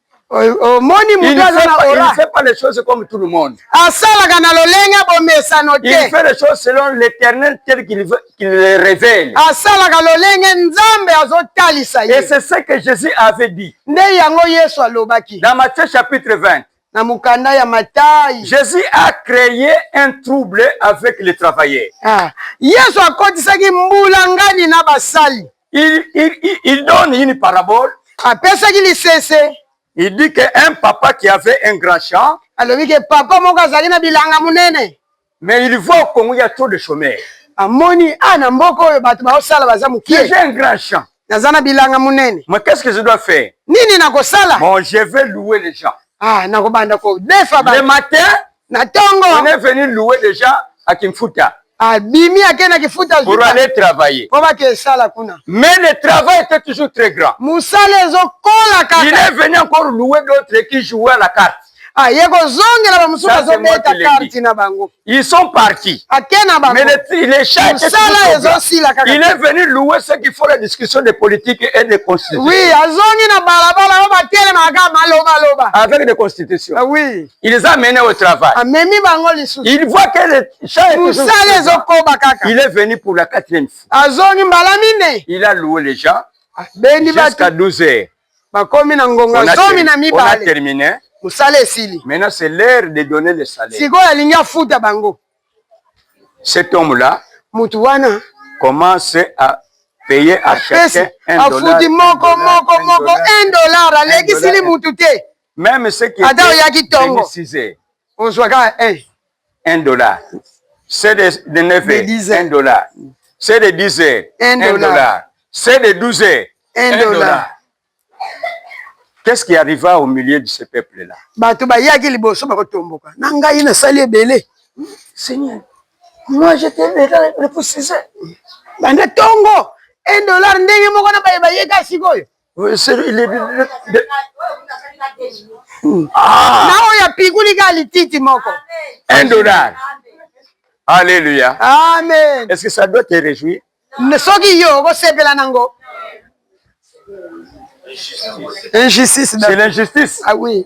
omoni moto aza na ora asalaka na lolenge ya bomesano teasalaka lolenge nzambe azotalisa ye nde yango yesu alobaki na mokanda ya matai jésus a créé un trouble avec les travailleurs ah. yesu akotisaki mbulangani na basali il, il, il, il donne une parabole apesaki lisese il dit que un papa qui avait un grand champ alobi ke papa moko azalaki na bilanga monene mais il voit au Congo il y a trop de chômeurs amoni a na mboka oyo bato baosala baza mokie j'ai un grand champ naza na bilanga monene mais qu'est ce que je dois faire nini nakosala bon je vais louer les gens ah nakobanda kodefa le matin na tongo on est venu louer déjà à Kimfuta abimi ake na kifuta pour aller travailler po bake esala kuna mais le travail était toujours très grand musala ezokola kaka il est venu encore louer d'autres qui jouaient à la carte aye ah, kozongela bamosusu bazobeta karti na bango ils sont partis ake na bangomosala ezosila kaka il est venu louer ce qu'il faut la discussion de politique et de constitution oui azongi na balabala oyo batelemaka malobaloba avec des constitutions ah, oui Il les a amenés au travail. Amemi bango lisusu. Il voit que le chat est Musala ezokoba kaka. Il est venu pour la quatrième fois. Azongi mbala mine. Il a loué les gens. Bendi batu. Jusqu'à 12 heures. Bakomi na ngonga zomi na mibale. On a terminé. Musala esili. Maintenant c'est l'heure de donner le salaire. Sikoyo alingi afuta bango. Cet homme là. Mutu wana. Commence à payer à chacun un dollar. Afuti moko moko moko un dollar. Alekisili mutu te. Meme ce qui Ata oyaki tongo. Ozwaka eh. Un dollar. C'est de, de 9 heures. De heures. Un dollar. C'est de 10 heures. Un, un dollar. C'est de 12 heures. Un, un dollar. dollar. Qu'est-ce qui arriva au milieu de ce peuple-là? Bato bayaki liboso bakotomboka. Na ngai nasali ebele. Seigneur, moi j'étais le poussiseur. Banda tongo. Un dollar ndenge moko na baye bayeka sikoyo. Ah. na oyo apikuli ka lititi moko un dollar alleluia amen est ce que ça doit te réjouir soki yo okosepela nango injustice c'est l'injustice ah oui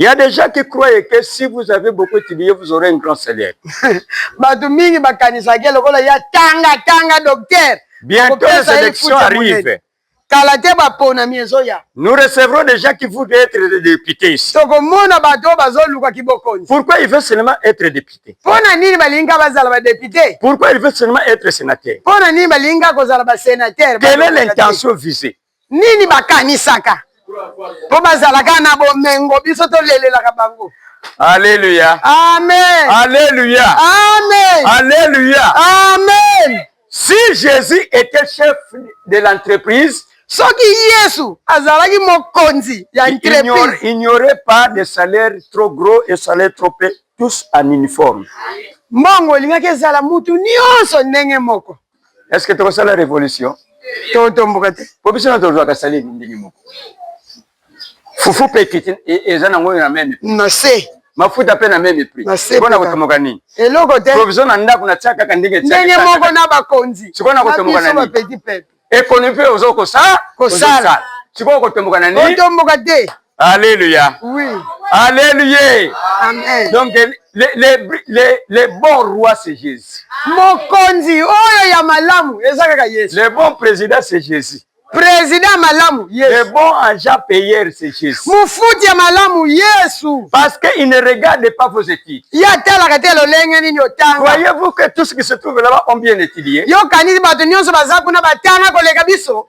Il y a des gens qui croient que si vous avez beaucoup étudié, vous aurez un grand salaire. Bato mingi bakanisaki lokola ya tanga tanga docteur. Bientôt les élections arrivent. Kala te baponami ezoya. Nous recevrons des gens qui voudraient être des députés ici. Tokomona bato oyo bazoluka kibokonzi. Pourquoi il veut seulement être député? Mpo na nini balinga bazala ba député? Pourquoi il veut seulement être sénateur? Mpo na nini balinga kozala ba sénateur? Quelle est l'intention visée? nini bakanisaka mpo bazalaka na bomengo biso tolelelaka bango aleluya amen aleluya amen aleluya amen si jésus était chef de l'entreprise soki yesu azalaki mokonzi ya entreprise il n'y aurait pas de salaire trop gros et salaire trop peu tous en uniforme mbongo olingaki ezala mutu nyonso ndenge moko est ce que tokosala révolution totomboka te po biso na tozwaka sali ndenge moko fufu mpe ekiti e, eza nango na meme na se mafuta mpe na meme prix mpo na kotomoka nini eloko te provision na ndako na tia kaka ndenge ndenge moko na bakonzi sikoyo na kotomoka na nini ekonomi mpe ozo kosala kosala sikoyo kotomboka na nini kotomboka te Alléluia. Oui. Alléluia. Amen. Donc les, les, les, les bons rois c'est Jésus. Mokonzi oyo ya malamu eza kaka Yesu. Le bon président c'est Jésus. Président malamu Yesu. Le bon agent payeur c'est Jésus. Mofuti ya malamu Yesu. Parce que il ne regarde pas vos études. Ya talaka te lolenge nini otanga. Croyez-vous que tout ce qui se trouve là-bas ont bien étudié? Yo kanisi bato nyonso baza kuna batanga koleka biso?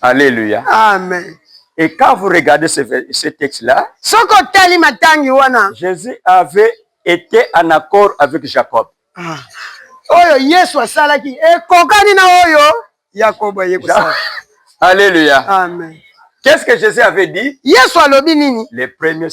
Alléluia. Amen. Et quand vous regardez ce, ce texte-là, Jésus avait été en accord avec Jacob. Ah. oyo yesu asalaki ekokani na oyo yakobo aye kosala alléluia amen qu'est-ce que jésus avait dit yesu alobi nini le premier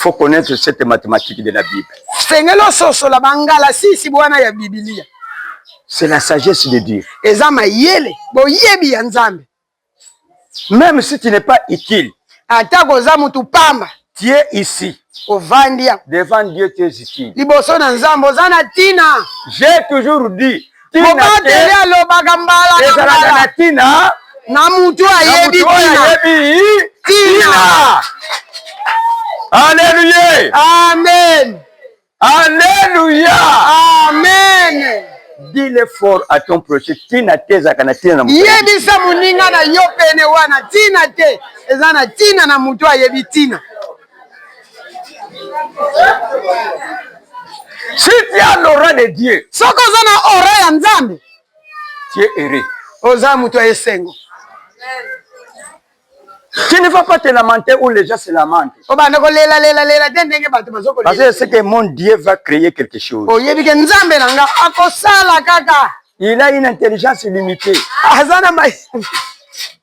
faut connaître cette mathématique de la Bible. Sengeli ososola bangalasisi bwana ya Biblia. C'est la sagesse de Dieu. Eza mayele, boyebi ya Nzambe. Même si tu n'es pas utile. Ata koza mutu pamba. Tu es ici. Ovandi. Devant Dieu tu es utile. Liboso na Nzambe oza na tina. J'ai toujours dit mobateli alobaka mbala ezalaka na ntina na motu ayebi ntina aleluya amen aleluya amen dile fort à ton projet ntina te ezalaka na ntina na yebisa moninga na yo pene wana ntina te eza na ntina na motu ayebi ntina Si tu as l'aura de Dieu. Soki oza na aura ya Nzambe. Tu es heureux. Oza moto ya esengo. Tu ne vas pas te lamenter où les gens se lamentent. Obanda oh, ko lela lela lela te ndenge bato bazo ko. Parce que c'est que mon Dieu va créer quelque chose. Oyebi oh, ke Nzambe na nga akosala kaka. Il a une intelligence limitée. Azana mai.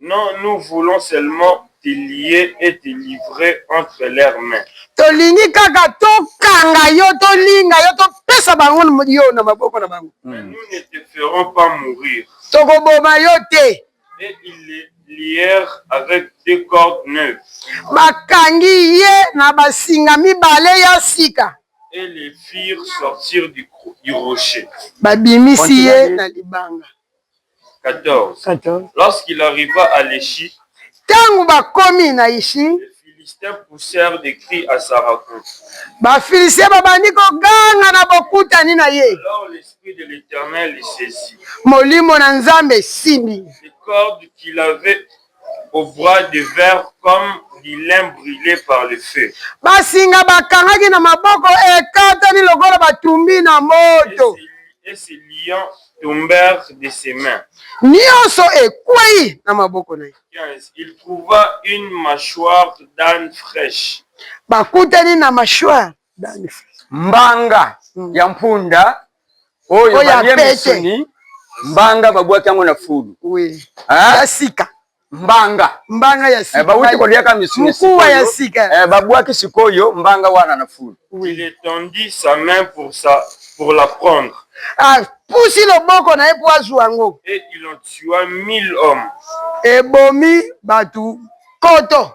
Non nous voulons seulement te lier et te livrer entre leurs mains. Tolingi kaka to kanga yo, to linga yo, to pesa bango yo na maboko na bango. Mais nous ne te ferons pas mourir. Toko boma yo te. Et ils le lièrent avec deux cordes neuves. Ba kangi ye na ba singa mibale ya sika. Et le firent sortir du, du rocher. Ba bimisi ye na libanga. 14. 14. Lorsqu'il arriva à Leshi, Ntango bakomi na Ishi, les Philistins poussèrent des cris à sa rencontre. Bafilistia babandi koganga na bokutani na ye. Alors l'Esprit de l'Éternel le saisit. Molimo na Nzambe esimbi. Les cordes qu'il avait au bras de fer comme du lin brule par le feu. Basinga bakangaki na maboko ekatani lokola batumbi na moto. Et ses lions tombèrent de ses mains. Nyonso ekwei na maboko na ye. 15. Il trouva une mâchoire d'âne fraîche. Bakutani na mâchoire d'âne fraîche. Mbanga ya mpunda oyo balie misuni mbanga babwaki yango na fulu ya sika mbanga mbanga ya eh, sika bawuti koliaka misuni sikoyo ya sika eh, babwaki sikoyo mbanga wana na fulu il étendit sa main pour sa pour la prendre apusi ah, loboko na ye mpo azwa yango et il en tua mille hommes ebomi bato koto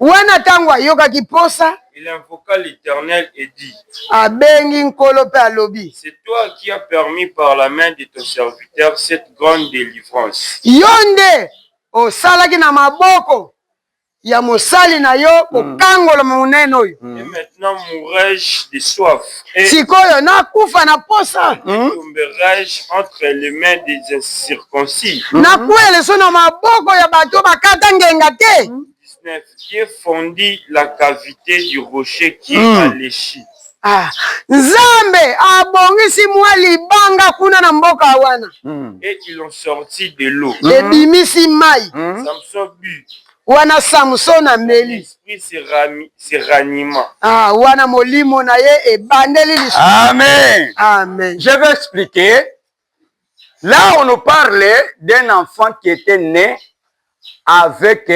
Wana tango ayokaki posa. Il invoqua l'Eternel et dit. Abengi Nkolo mpe alobi. C'est toi qui as permis par la main de ton serviteur cette grande delivrance. Yo nde osalaki na maboko ya mosali na yo kokangolama monene oyo. Et maintenant mourrai-je de soif. Eh. sikoyo nakufa na posa hmm? nakwele so na maboko ya bato bakata ngenga te hmm? Dieu fondit la cavité du rocher qui mm. a léchi. Ah, Nzambe abongisi mwa libanga kuna na mboka wana. Mm. Et ils ont sorti de l'eau. Ebimisi mai. Samson but wana samson ameli ah, wana molimo na ye ebandeli lisusu amen amen je vais expliquer là on nous parle d'un enfant qui était né avec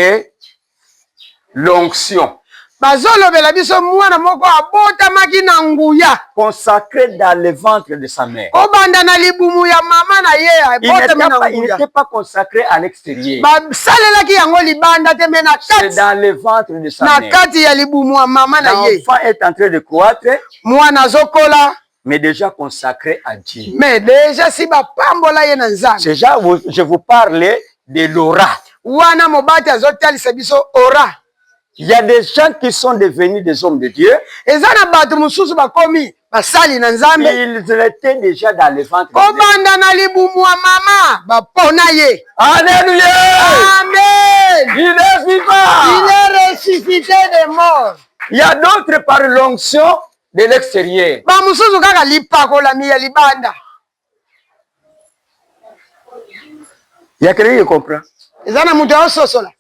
l'onction bazolobela biso mwana moko abotamaki na nguya consacré dans le ventre de sa mère kobanda na libumu ya mama na ye abotami na nguya n'était pas consacré à l'extérieur basalelaki yango libanda te mais na kati dans le ventre de sa mère na kati ya libumu ya mama na ye l'enfant est en train de croître mwana azokola mais déjà consacré à Dieu mais déjà si bapambola ye na Nzambe déjà je vous parle de l'aura wana mobati azotalisa biso aura Il y a des gens qui sont devenus des hommes de Dieu. Eza na bato mosusu bakomi basali na Nzambe. Ils étaient déjà dans le ventre. Kobanda na libumu ya mama bapona ye. Alléluia. Amen. Il est vivant. Il est ressuscité des morts. Il y a d'autres par l'onction de l'extérieur. Ba mosusu kaka lipakolami ya libanda. ya kelenge comprend eza na moto aososola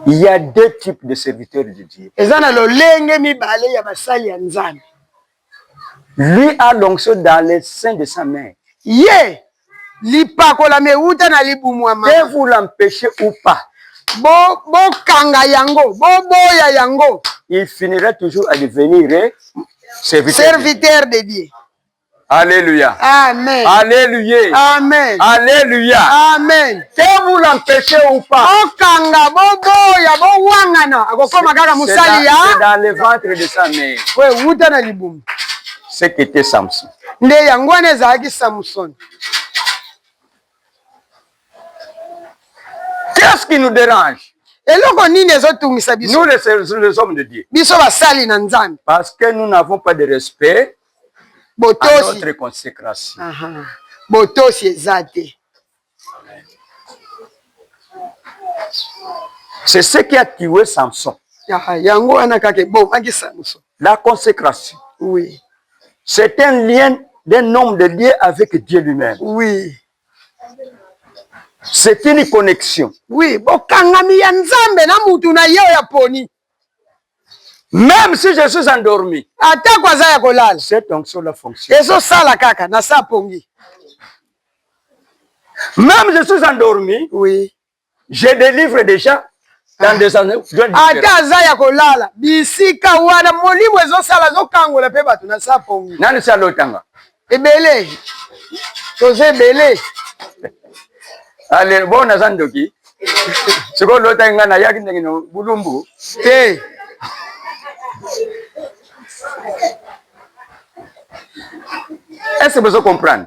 il y a deux types de serviteurs de Dieu eza na lolenge mibale ya basali ya nzambe lui a l'onction dans les seins de sa mère ye Lipakolami ewuta na libumu ya mama. Que vous l'empechez ou pas. Bo bokanga yango, boboya yango. Il finira toujours à devenir serviteur, serviteur de Dieu. Alléluia. Amen. Alléluia. Amen. Alléluia. Amen. Que vous l'empêchez ou pas. Okanga boboya bowangana akokoma kaka mosali ya. C'est dans le ventre de sa mère. Oui, uta na libumu. Ce qu'était Samson. nde yango wana ezalaki samson qu'est-ce qui nous dérange eloko nini ezotungisa biso nous les, les hommes de dieu biso basali na nzambe parce que nous n'avons pas de respect botosi à notre consécration uh -huh. botosi eza te C'est ce qui a tué Samson. Yango wana kaka ebomaki Samson. La consécration. Oui. C'est un lien d'un homme de Dieu avec Dieu lui-même. Oui. C'est une connexion. Oui, bokangami ya Nzambe na mutu na ye oyo aponi. Même si je suis endormi. Atako aza ya kolala. Cette onction la fonction. Ezo sala kaka na sa pongi. Même je suis endormi. Oui. Je délivre déjà dans des années. Ata aza ya kolala. Bisika wana molimo ezo sala ezo kangola pe bato na sa pongi. Nani sa lotanga? ebele toza ebele ale bo naza ndoki sikoyo lotaki ngai nayaki ndenge no bulumbu te est ce que bozo comprendre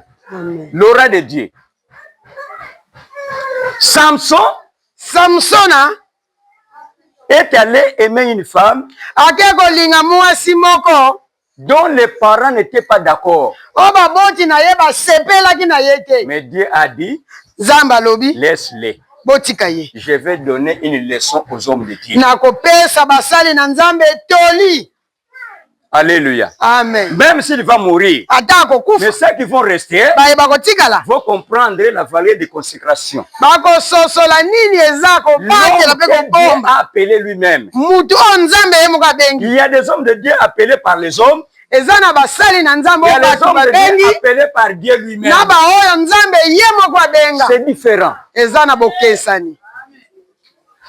l'aura de dieu samson samsona est allé aimer une femme ake kolinga mwasi moko dont les parents n'étaient pas d'accord. Oh ba boti na ye ba sepelaki na ye te. Mais Dieu a dit. Nzambe alobi. Laisse-le. Botika ye. Je vais donner une leçon aux hommes de Dieu. Na kopesa basali na Nzambe toli. Alléluia. Amen. Même s'il va mourir. Ata akokufa. Mais ceux qui vont rester. Baye bakotikala. Vont comprendre la valeur de consécration. bakososola nini eza kobatela mpe kobomba motu oyo nzambe ye moko abengi il y a des hommes de dieu appelés par les hommes eza na basali na nzambe oyo bato babengi na baoyo nzambe ye moko abenga eza na bokesani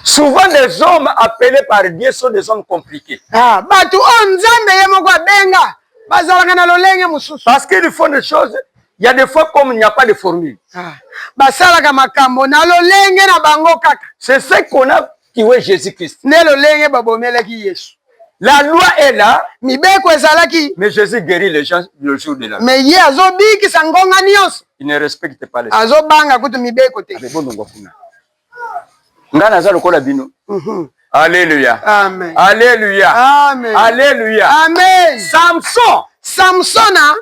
Souvent des hommes appelés par Dieu sont des hommes compliqués. Ah, batu oyo Nzambe ye moko abenga bazalaka na lolenge mosusu. Parce qu'ils font des choses, il y a des fois comme il n'y a pas de formule. Ah, basalaka makambo na lolenge na bango kaka. C'est ce qu'on a tué Jésus-Christ. Nde lolenge babomelaki Yesu. La loi est là. Mibeko ezalaki. Mais Jésus guérit les gens le jour de la. Mais ye azobikisa ngonga nyonso. Il ne respecte pas les. Azobanga kutu mibeko te. Abebonongo kuna. nga naza lokola bino mhm. Alléluia. Amen. Alléluia. Amen. Alléluia. Amen. Samson. Samson a... Hein?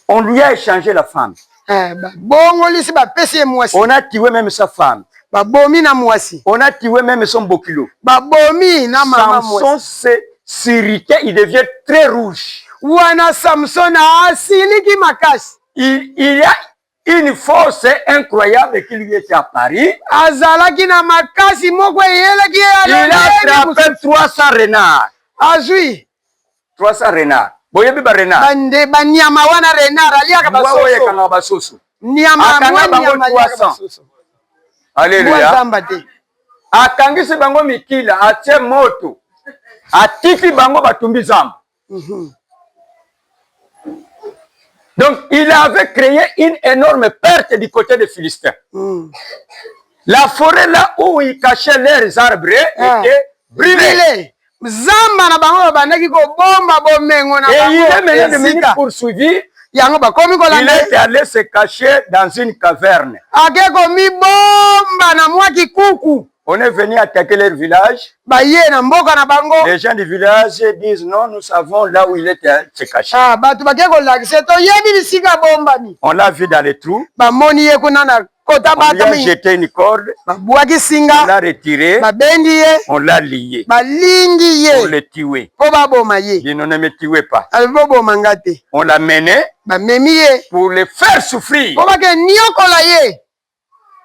On lui a échangé la femme. Eh, bah, bongo lisi ba pesi moi. On a tué même sa femme. Ba bomi na moi. On a tué même son bokilo. Ba bomi na maman moi. Samson c'est sirité, il devient très rouge. Wana Samson a siliki makasi. Il, il a Une force incroyable qui lui était à Paris. Azalaki na makasi moko eyelaki ye ya lolenge. Il a attrapé 300 renards. Azui. 300 renards. Boyebi ba renards. Bande ba nyama wana renard aliaka ba soso. Oyo ekanga ba soso. Nyama akanga bango 300. Alléluia. Zamba te. Akangisi bango mikila, atie moto. Atiki bango batumbi zamba. Mhm. Donc, il avait créé une énorme perte du côté des Philistins. Mm. La forêt là où ils cachaient leurs arbres ah. était brûlée. zamba na bango babandaki kobomba bomengo na bango poursuivi yango bakomi kolanda se cacher dans une caverne ake komibomba na mwa kikuku On est venu attaquer leur village. Baye na mboka na bango. Les gens du village disent non, nous savons là où il est euh, se cacher. Ah, bato bake kolakisa to yebi bisika bombami. On l'a vu dans les trous. Ba moni ye kuna na kota bata mingi. On lui a jeté une corde. Ba buaki singa. On l'a retiré. Ba bendi ye. On l'a lié. Ba lingi ye. On le tué. Ko ba boma ye. Dino ne me tuez pas. Al bo boma ngate. On l'a mené. Ba memi ye. Pour le faire souffrir. Ko ba ke niokola ye.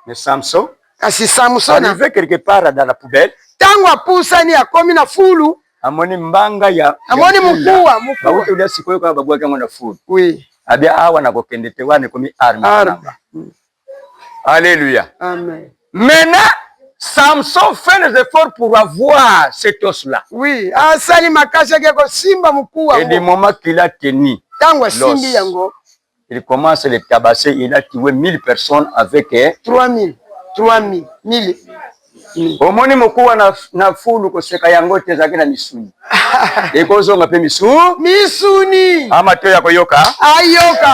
Mais Samson, kasi Samson arrivé quelque part dans la poubelle, tango apusani akomi na fulu, amoni mbanga ya amoni mukuwa mukuwa, bauti olia sikoyo kaka babwaki yango na fulu, oui abi awa na kokende te, wana ekomi arme arme. Mm. Alléluia, amen. Maintenant Samson fait les efforts pour avoir cet os là, oui asali makasi ya kosimba mukuwa, et du moment qu'il a tenu tango asimbi yango il commence le tabasser il a tuer 1000 personnes avec 3000 3000 1000 omoni mokuwa na, na fulu koseka yango te ezalaki na misuni ekozonga mpe misu misuni amatoyo akoyoka ayoka